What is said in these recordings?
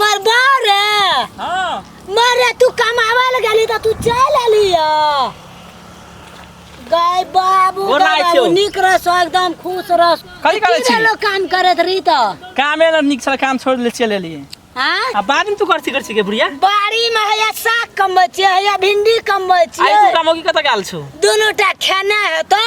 मरबा रे हाँ मरे तू कमावा ले गेली त तू चल आली गाय बाबू गोर लागै गाय छौ। बाबू निक रह सो एकदम खुश रह कथी करै छी? लोग काम करत रही त काम एला निक छल काम छोड़ ले चल एलिए हां अब बाद में तू करती करती के बुढ़िया बाड़ी में हैया साग कमबै छियै हैया भिंडी कमबै आई तू छियै काम होगी कत गाल छो दुनू टा खेने हेतौ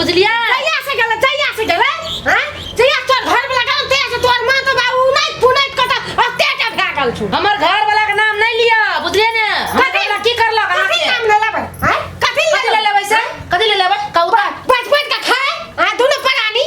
बुझलिए जहिया से गेले जहिया से गेले हैं जहिया तोर घर वाला गेले तहिया से तोर मां तो बाबू नहीं पुनै कटा अते का भगा गेल छु हमर घर वाला के नाम नहीं लिया बुझलिए ने हमर घर वाला की करलक अहाँ कथी के नाम ले लेबै हैं कथी कथी ले लेबै से कथी ले लेबै कौता बच बच के खाए आ दोनों परानी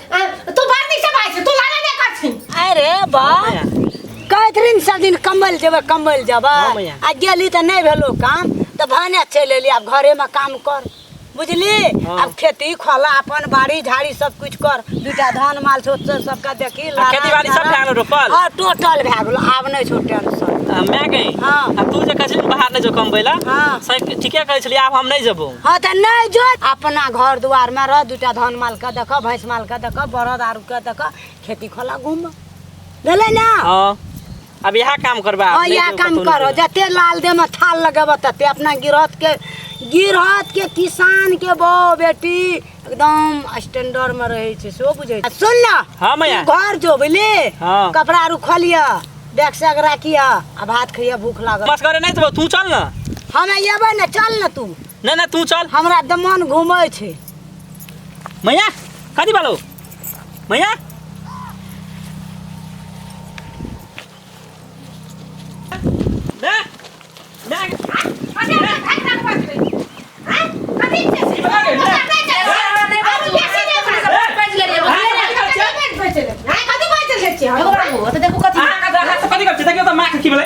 तू बाहर नहीं से भाई तू लाना नहीं कर छी अरे बा कैथरीन सब दिन कमल जेबै कमल जेबै हाँ, मैया। आ गेली तऽ नहि भेलो काम तऽ भने चलि एली आब घरेमे काम कर बुझली हाँ। आब खेती खोला अपन बाड़ी झाड़ी सब कुछ कर दूटा धान माल छोट से सबके देखी आ लाना, खेती-बाड़ी सब चारा। भए गेलो रोपल? हाँ टोटल भए गेलो आब नहि छो टेंशन आ, माय गई हाँ। आ तू जे कहै छली बाहर नहि जो कमबै लए हाँ। सही ठीके कहै छली आब हम नहि जेबौ हाँ तऽ नहि जो अपना घर दुआरमे रह दूटा धन मालके दऽ कऽ भैंस मालके दऽ कऽ बरद आरूके दऽ कऽ खेती खोला घूम भेलै ने हाँ अब यहाँ काम करबा हाँ इएह काम करो जते लाल दे में थाल लगेबऽ तते अपना गिरहत के गिरहत के किसान के बहु बेटी एकदम स्टैंडर्ड में रहे छै सेहो बुझे छै। आ सुन ना हाँ मैया तू घर जो बुझली हाँ। कपड़ा आरू खोलिया बैग से राखिया आ भात खइया भूख लागल बस करे नहीं तो तू चल ना हम अयबै ने चल ने तू ना ना तू चल हमरा दमन घूमे छै मैया कथी बालो मैया ना ना कथी करछे देखियो त माँ के की भेलै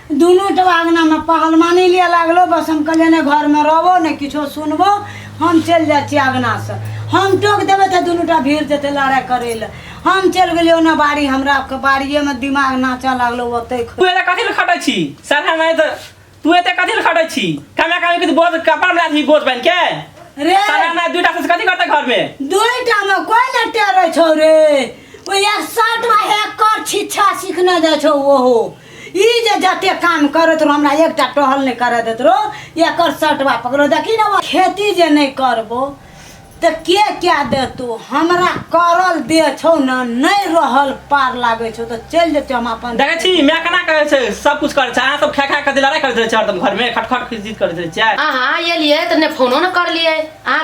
दुनू जब आंगनामे पहलमानी लिए लागलो बस हम कहलियै ने घरमे रहबो ने किछो सुनबो हम चलि जाइ छी आंगनासँ हम टोक देबै तऽ दुनूटा भीड़ जेतै लड़ाइ करै लए हम चलि गेलियै ओना बाड़ी हमरा बाड़िएमे दिमाग नाचऽ लागलो ओतै तू एते कथी लए खटै छी साला नहि तऽ तू एते कथी लए खटै छी कमे कमे किछु बोझ कपड़ा ला छी बोझ बनि के रे साला नहि दूटा से कथी करतै घर में दुइटामे कोइ ने टेरै छौ रे ओ एक शर्टमे एक कर छिच्छा सिखने जाइ छौ ओहो ई जे जते काम करत रहो हमरा एकटा टहल नहि करऽ देत रहो एकर सटवा पकड़ो देखी ने खेती जे नहि करबो तऽ के क्या देतो हमरा करल दे छौ ने नहि रहल पार लागै छौ तऽ चलि जेतौ हम अपन देखै छी माय केना करै छै सब कुछ करै छै अहाँ सब खा खा के लड़ाई करैत रहै छै हरदम घर में खटखट खिचखिच करैत रहै छियै अहाँ एलियै तऽ नहि फोनो ने करलियै अहाँ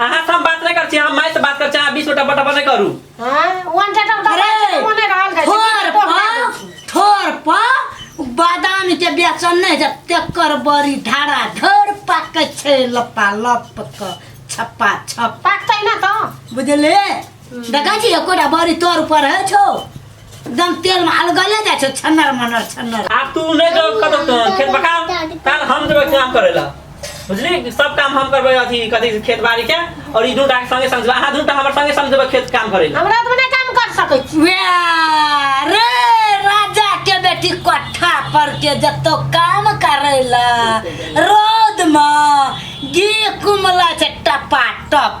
अहाँ से हम बात नहीं कर छी हम माय से बात कर छी अहाँ बीच में टपा टपा नहीं करू हां वन टटा उठा अरे, मने रहल गई ठोर पर ठोर पर बादाम के बेचन नहीं जब तेकर बड़ी धारा धर पाके छै लपा लप क छप्पा छप पाकतै ना तो बुझले देखै छी एकोटा बड़ी तोर पर है छो एकदम तेल में अलगले जाइ छो छन्नर मनर छन्नर आब तू नहि जो कतौ तो खेत पका काल हम जेबै काम करै ला बुझली सब काम हम करबै अथी कथी खेत बाड़ी के और ई दूटा के संगे संग जेबै। अहाँ दूटा हमर संगे संग जेबै खेत काम करै ला हमरा तो ना काम कर सकै छी वाह, रे राजा के बेटी कोठा पर के जतो काम करैला रौद में गे कुमला छै टपा टप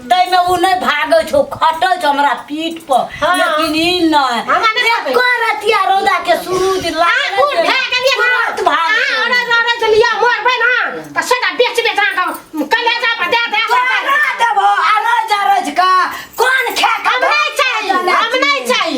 तैमे उ नै भागै छौ खटै छौ हमरा पीठ पर हाँ। लेकिन ई नै हमरा नै भागै। एको रतिया रौदा के सूरज आ, लागल उठ, है, कनिया के तुरंत उठ। भाग आ, छौ। अरे, अरे, तो लिया, मरबै ना, तो सदा बेच बेच अहाँके हम कलेजा पर दे दे, दे दे। करा देबो अरज अरज का कोन खा के हम नहि चाही, हम नहि चाही।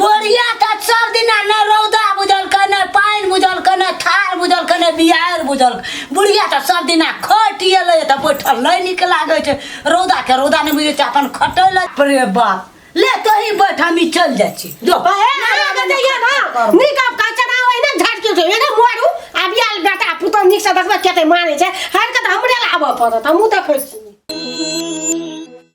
बोरिया त सब दिना न रौदा बुझल के न पानि बुझल के न थार बुझल के न बिहार बुझल बुढ़िया त सब दिना खटिए ले त बैठल नहीं निक लागे छै रौदा के रौदा नहीं बुझे छै अपन खटे ले प्रे बाप ले तोही बैठ हम ई चल जाइ छी जो हे हमरा के दैया ना नीक अब का चना होय ना झाट के छै एने मोरू आब याल बेटा पुतो नीक से देखबे केते माने छै हर के त हमरे लाबऽ पड़त हमहूँ देखै छी